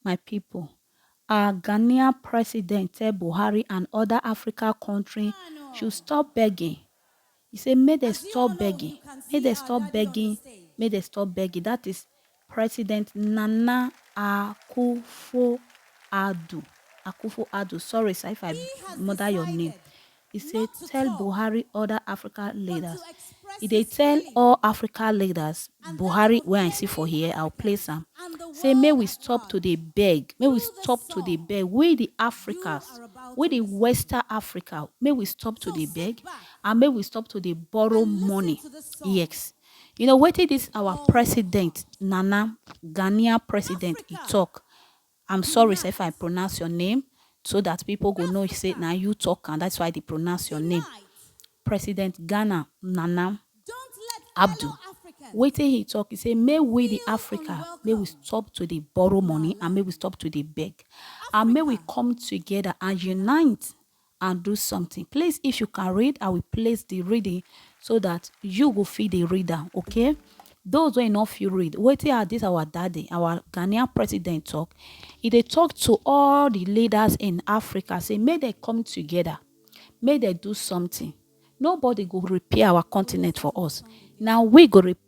My pipo, our Ghanaian president tell Buhari and oda Africa kontri should stop begging. He say make dem stop begging, make dem stop begging, make dem stop begging. That is President Nana Akufo-Addo. Akufo-Addo, sorry sir if I murder your name. E say tell Buhari other Africa leaders E dey tell all Africa leaders Buhari wey I see for here I will place am say make we stop to dey beg make we stop to dey beg we the Africas we the western Africa make we stop to dey beg and make we stop to dey borrow money ex you know wetin this our president Nana Ghanaian president e talk I'm sorry sir if I pronounce your name so that people go know say na you talk am that's why I dey pronounce your name. President Ghana Nana Abdu wetin he talk he say make we the Africa make we stop to dey borrow money and make we stop to dey beg and make we come together and unite and do something please if you can read i will place the reading so that you go feed the reader. okay those wey no fit read wetin are this our daddy our ghanaian president talk He they talk to all the leaders in africa say may they come together may they do something nobody go repair our continent for us Now we go repair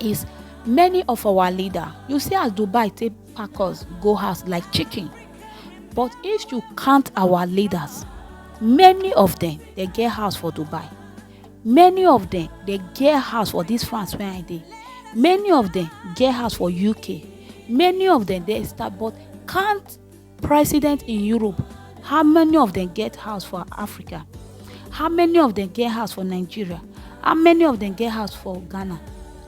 is many of our leader you see as dubai take pack us go house like chicken but if you count our leaders many of them dey get house for dubai many of them dey get house for this france wey i dey many of them get house for uk many of them dey start but count president in europe how many of dem get house for africa how many of dem get house for nigeria how many of dem get house for ghana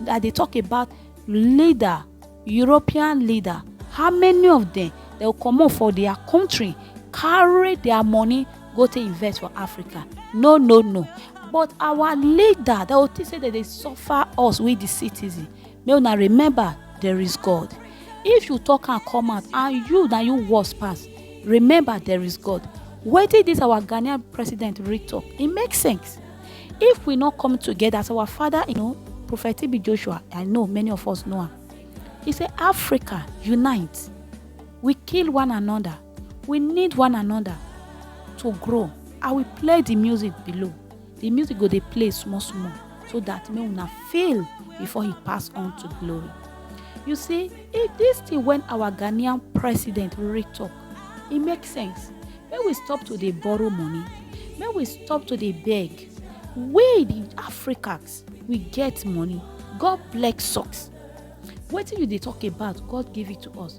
i dey talk about leader european leader how many of dem dey go comot for their country carry their money go take invest for africa no no no but our leader dey go think say dem dey suffer us we the citizen make una remember there is god if you talk am come out and you na you worse pass remember there is god wetin dis our ghanaian president really talk e make sense if we no come together as our father you know prophet tb joshua i know many of us know am he say africa unite we kill one another we need one another to grow i will play the music below the music go dey play small small so that make una fail before he pass on to glory you see if this thing when our ghanaian president really talk e make sense make we stop to dey borrow money make we stop to dey beg we the africans we get money god bless us wetin you dey talk about god give it to us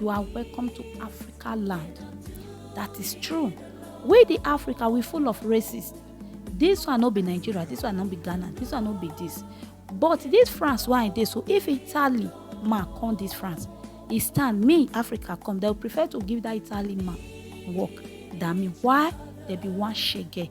you are welcome to africa land that is true we the africa we full of racists this one no be nigeria this one no be ghana this one no be this but this france wey i dey so if italy man come this france e stand me africa come they prefer to give that italy man work than me why they be one shege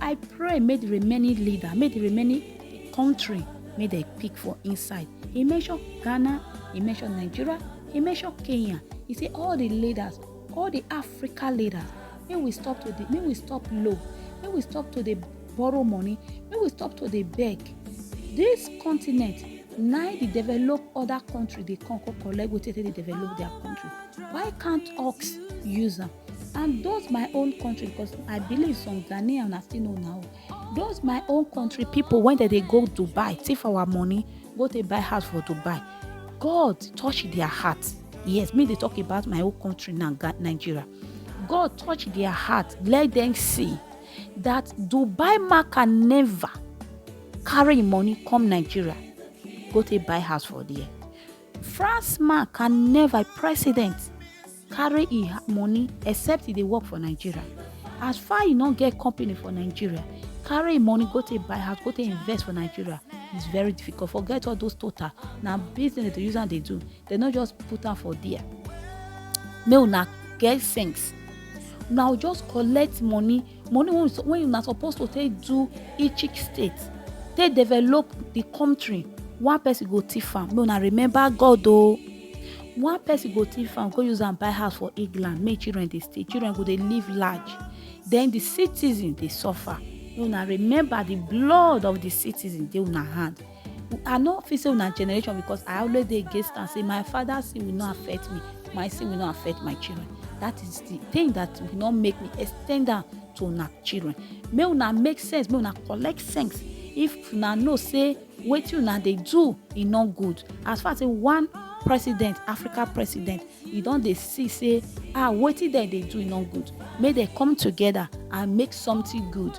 I pray make the remaining leader, make the remaining country, make they pick for inside. He mentioned Ghana, he mentioned Nigeria, he mentioned Kenya. He say all the leaders, all the Africa leaders, make we stop to the, make we stop low, make we stop to the borrow money, make we stop to the beg. This continent na the develop other country dey come come collect wetin dey develop their country. Why can't us use am? and those my own country because i believe some ghanaian na still know now those my own country people when they dey go dubai thief our money go take buy house for dubai god touch their heart yes me dey talk about my own country now Ga- nigeria god touch their heart let them see that dubai marker never carry im money come nigeria go take buy house for there france man can never president carry e ha- money except e dey work for nigeria as far e no get company for nigeria carry e money go take buy house go take invest for nigeria is very difficult forget all those total na business dem dey use am dey do dem no just put am for there make una get sense una go just collect money money wey we- wey una suppose to take do each each state take develop the country one person go thief am make una remember god o one person go thief am go use am buy house for england make children dey stay children go dey live large then the citizen dey suffer make una remember the blood of the citizen dey una hand i no fit say una generation because i always dey against am say my father sin will not affect me my sin will not affect my children that is the thing that will not make me extend am to una children make una make sense make una collect sense if una know say wetin una dey do e no good as far as say one president africa president e don dey see say ah wetin dem dey do e no good make dem come together and make something good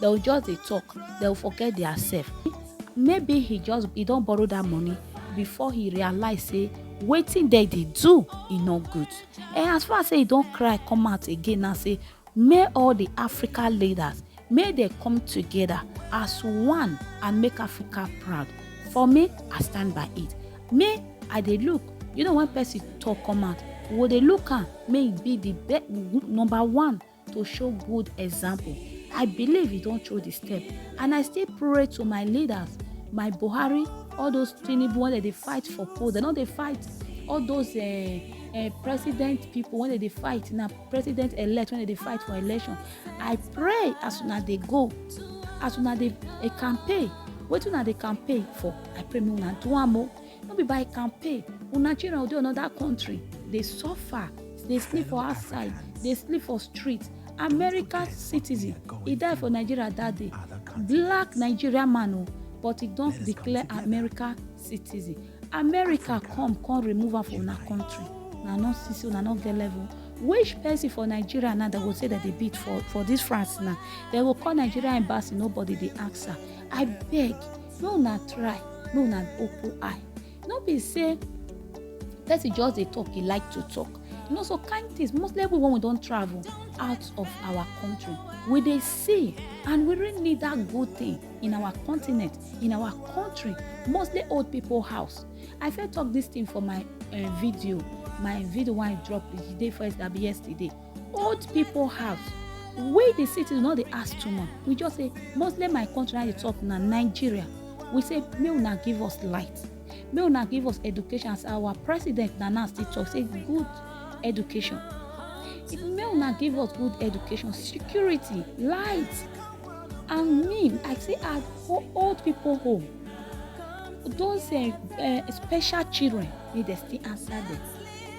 they will just dey talk they will forget their self maybe he just he don borrow that money before he realize say wetin dem dey do e no good and as far as say he don cry come out again now say may all the africa leaders may they come together as one and make africa proud for me i stand by it me i dey look you know when person talk come out we go dey look am may e be the be number one to show good example. I believe he don't throw the step. And I still pray to my leaders, my Buhari, all those Tinubu when they, they fight for post. They know they fight all those uh, uh, president people when they, they fight now president elect when they, they fight for election. I pray as soon as they go, as soon as they, they campaign, wetin una dey campaign for i pray make una do am o no be by campaign una children go dey another country dey suffer dey sleep for outside dey sleep for street america citizen e die for nigeria that day black nigerian man o but e don declare america citizen america come come remove am for una country una no see say una no get level which person for nigeria now dem go say dem dey beat for for this france now dem go call nigeria embassy nobody dey answer i beg make una try make una open eye no be say person just dey talk e like to talk you know so kind things mostly every when we don travel out of our country we dey see and we really need that good thing in our continent in our country mostly old people house i fit talk this thing for my uh, video my video wey i drop the day first that be yesterday old people house wey dey sit no dey ask too much we just say mostly my country na dey talk na nigeria we say make una give us light make una give us education as our president na now still talk say good education if make una give us good education security light and me i say at old people home those uh, uh, special children need to still answer them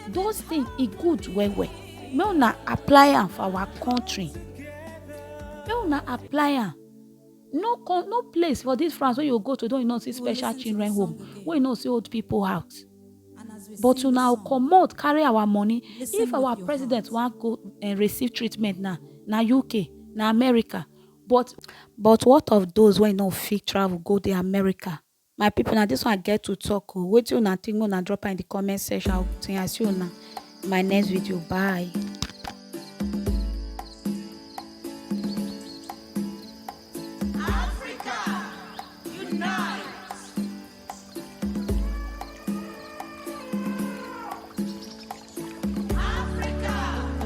those things e good well well make una apply am for our country make una apply am no con no place for this france wey you go to don you know see special children home wey you know see old people house but una go comot carry our money if our president wan go uh, receive treatment now na uk na america but but what of those wey no fit travel go the america My people na this one I get to talk o wetin una think make una drop am in the comment section I will think I see una in my next video bye.